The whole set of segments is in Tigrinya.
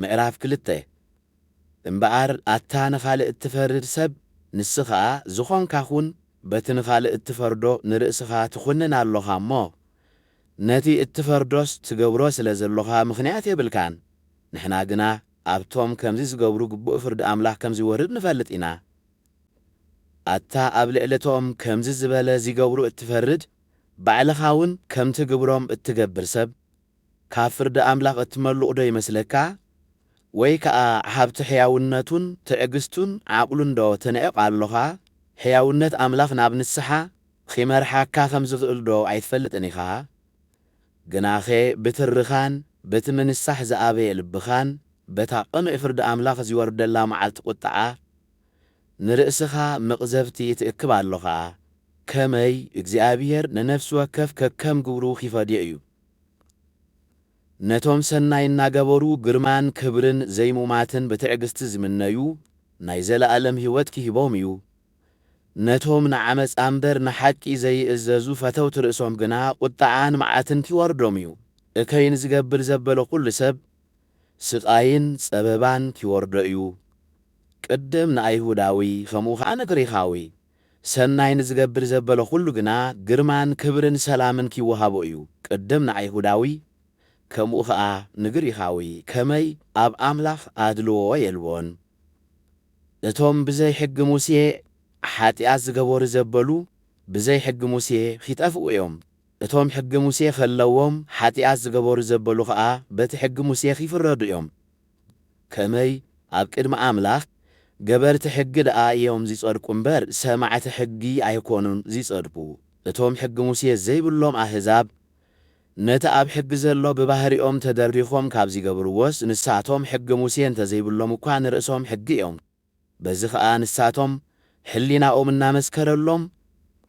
ምዕራፍ ክልተ፣ እምበኣር ኣታ ንኻልእ እትፈርድ ሰብ፣ ንስ ኸኣ ዝኾንካ ኹን፣ በቲ ንኻልእ እትፈርዶ ንርእስኻ ትኹንን ኣሎኻ እሞ፣ ነቲ እትፈርዶስ ትገብሮ ስለ ዘሎኻ ምኽንያት የብልካን። ንሕና ግና ኣብቶም ከምዚ ዝገብሩ ግቡእ ፍርዲ ኣምላኽ ከም ዚወርድ ንፈልጥ ኢና። ኣታ ኣብ ልዕሊ እቶም ከምዚ ዝበለ ዚገብሩ እትፈርድ፣ ባዕልኻውን ከምቲ ግብሮም እትገብር ሰብ፣ ካብ ፍርዲ ኣምላኽ እትመሉቕዶ ይመስለካ? ወይ ከኣ ሃብቲ ሕያውነቱን ትዕግስቱን ዓቕሉንዶ ትንዕቕ ኣሎኻ? ሕያውነት ኣምላኽ ናብ ንስሓ ኺመርሓካ ኸም ዚኽእልዶ ኣይትፈልጥን ኢኻ? ግናኸ ብትርኻን በቲ ምንሳሕ ዝኣበየ ልብኻን በታ ቕኑዕ ፍርዲ ኣምላኽ ዚወርደላ መዓልቲ ቝጥዓ ንርእስኻ መቕዘፍቲ ትእክብ ኣሎኻ። ከመይ፣ እግዚኣብሄር ንነፍሲ ወከፍ ከከም ግብሩ ኺፈድዮ እዩ። ነቶም ሰናይ እናገበሩ ግርማን ክብርን ዘይሙማትን ብትዕግስቲ ዝምነዩ ናይ ዘለኣለም ህይወት ኪህቦም እዩ። ነቶም ንዓመጻ እምበር ንሓቂ ዘይእዘዙ ፈተውቲ ርእሶም ግና ቁጥዓን መዓትን ኪወርዶም እዩ። እከይ ንዚገብር ዘበለ ዅሉ ሰብ ስቓይን ጸበባን ኪወርዶ እዩ፣ ቅድም ንኣይሁዳዊ ኸምኡ ኸኣ ንግሪኻዊ። ሰናይ ንዝገብር ዘበለ ኹሉ ግና ግርማን ክብርን ሰላምን ኪወሃቦ እዩ፣ ቅድም ንኣይሁዳዊ ከምኡ ኸኣ ንግሪኻዊ ከመይ ኣብ ኣምላኽ ኣድልዎ የልቦን። እቶም ብዘይ ሕጊ ሙሴ ሓጢኣት ዝገበሩ ዘበሉ ብዘይ ሕጊ ሙሴ ኺጠፍኡ እዮም፣ እቶም ሕጊ ሙሴ ኸለዎም ሓጢኣት ዝገበሩ ዘበሉ ኸኣ በቲ ሕጊ ሙሴ ኺፍረዱ እዮም፣ ከመይ ኣብ ቅድሚ ኣምላኽ ገበርቲ ሕጊ ደኣ እዮም ዚጸድቁ እምበር፣ ሰማዕቲ ሕጊ ኣይኰኑን ዚጸድቁ። እቶም ሕጊ ሙሴ ዘይብሎም ኣህዛብ፣ ነቲ ኣብ ሕጊ ዘሎ ብባህሪኦም ተደሪኾም ካብ ዚገብርዎስ፣ ንሳቶም ሕጊ ሙሴ እንተ ዘይብሎም እኳ ንርእሶም ሕጊ እዮም። በዚ ኸኣ ንሳቶም ሕሊናኦም እናመስከረሎም፣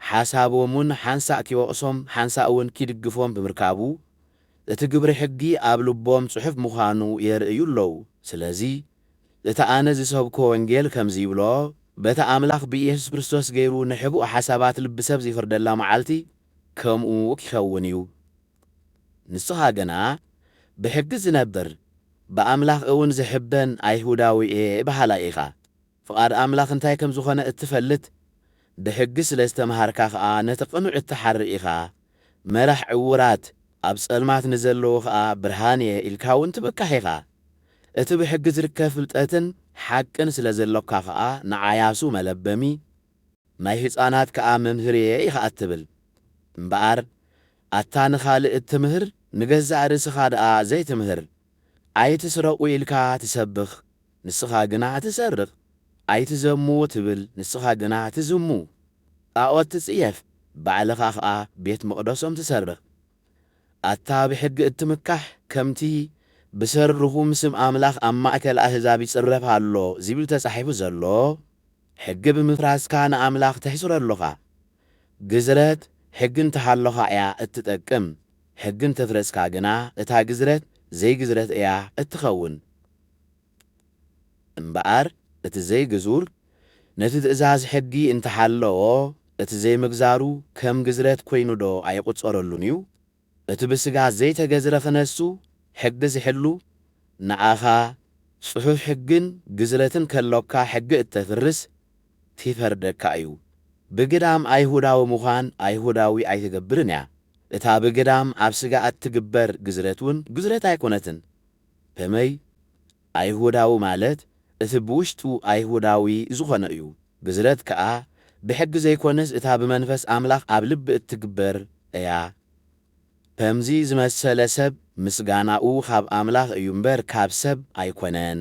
ሓሳቦም'ውን ሓንሳእ ኪወቕሶም ሓንሳእ'ውን ኪድግፎም ብምርካቡ፣ እቲ ግብሪ ሕጊ ኣብ ልቦም ጽሑፍ ምዃኑ የርእዩ ኣለዉ። ስለዚ እቲ ኣነ ዝሰብኮ ወንጌል ከምዚ ይብሎ፣ በታ ኣምላኽ ብኢየሱስ ክርስቶስ ገይሩ ንሕቡእ ሓሳባት ልቢ ሰብ ዚፍርደላ መዓልቲ ከምኡ ኪኸውን እዩ። ንስኻ ግና ብሕጊ ዝነብር ብኣምላኽ እውን ዝሕበን ኣይሁዳዊ እየ በሃላይ ኢኻ፣ ፍቓድ ኣምላኽ እንታይ ከም ዝዀነ እትፈልጥ፣ ብሕጊ ስለ ዝተመሃርካ ኸኣ ነቲ ቕኑዕ እትሓሪ ኢኻ፣ መራሕ ዕዉራት፣ ኣብ ጸልማት ንዘለዉ ኸኣ ብርሃን እየ ኢልካ እውን ትብካሕ ኢኻ። እቲ ብሕጊ ዝርከብ ፍልጠትን ሓቅን ስለ ዘሎካ ኸኣ ንዓያሱ መለበሚ ናይ ህጻናት ከኣ መምህር'የ ኢኻ እትብል። እምበኣር ኣታ ንኻልእ እትምህር ንገዛእ ርእስኻ ደኣ ዘይትምህር። ኣይትስረቑ ኢልካ ትሰብኽ ንስኻ ግና ትሰርቕ፣ ኣይትዘሙ ትብል ንስኻ ግና ትዝሙ፣ ጣኦት ትጽየፍ ባዕልኻ ኸኣ ቤት መቕደሶም ትሰርቕ። ኣታ ብሕጊ እትምካሕ ከምቲ ብሰሪ ርኹም ስም ኣምላኽ ኣብ ማእከል ኣህዛብ ይጽረፍ ኣሎ ዚብል ተጻሒፉ ዘሎ ሕጊ ብምፍራስካ ንኣምላኽ ተሕጽሮ ኣሎኻ። ግዝረት ሕጊ እንተሃሎኻ እያ እትጠቅም፣ ሕጊ እንተፍረስካ ግና እታ ግዝረት ዘይግዝረት እያ እትኸውን። እምበኣር እቲ ዘይግዙር ነቲ ትእዛዝ ሕጊ እንተሓለዎ እቲ ዘይምግዛሩ ከም ግዝረት ኮይኑዶ ኣይቑጸረሉን እዩ? እቲ ብስጋ ዘይተገዝረ ክነሱ ሕጊ ዝሕሉ ንኣኻ ጽሑፍ ሕግን ግዝረትን ከሎካ ሕጊ እተፍርስ ቲፈርደካ እዩ ብግዳም ኣይሁዳዊ ምዃን ኣይሁዳዊ ኣይትገብርን እያ እታ ብግዳም ኣብ ስጋ እትግበር ግዝረት ውን ግዝረት ኣይኮነትን ከመይ ኣይሁዳዊ ማለት እቲ ብውሽጡ ኣይሁዳዊ ዝኾነ እዩ። ግዝረት ከኣ ብሕጊ ዘይኮነስ እታ ብመንፈስ ኣምላኽ ኣብ ልቢ እትግበር እያ። ከምዚ ዝመሰለ ሰብ ምስጋናኡ ካብ ኣምላኽ እዩ እምበር ካብ ሰብ ኣይኮነን።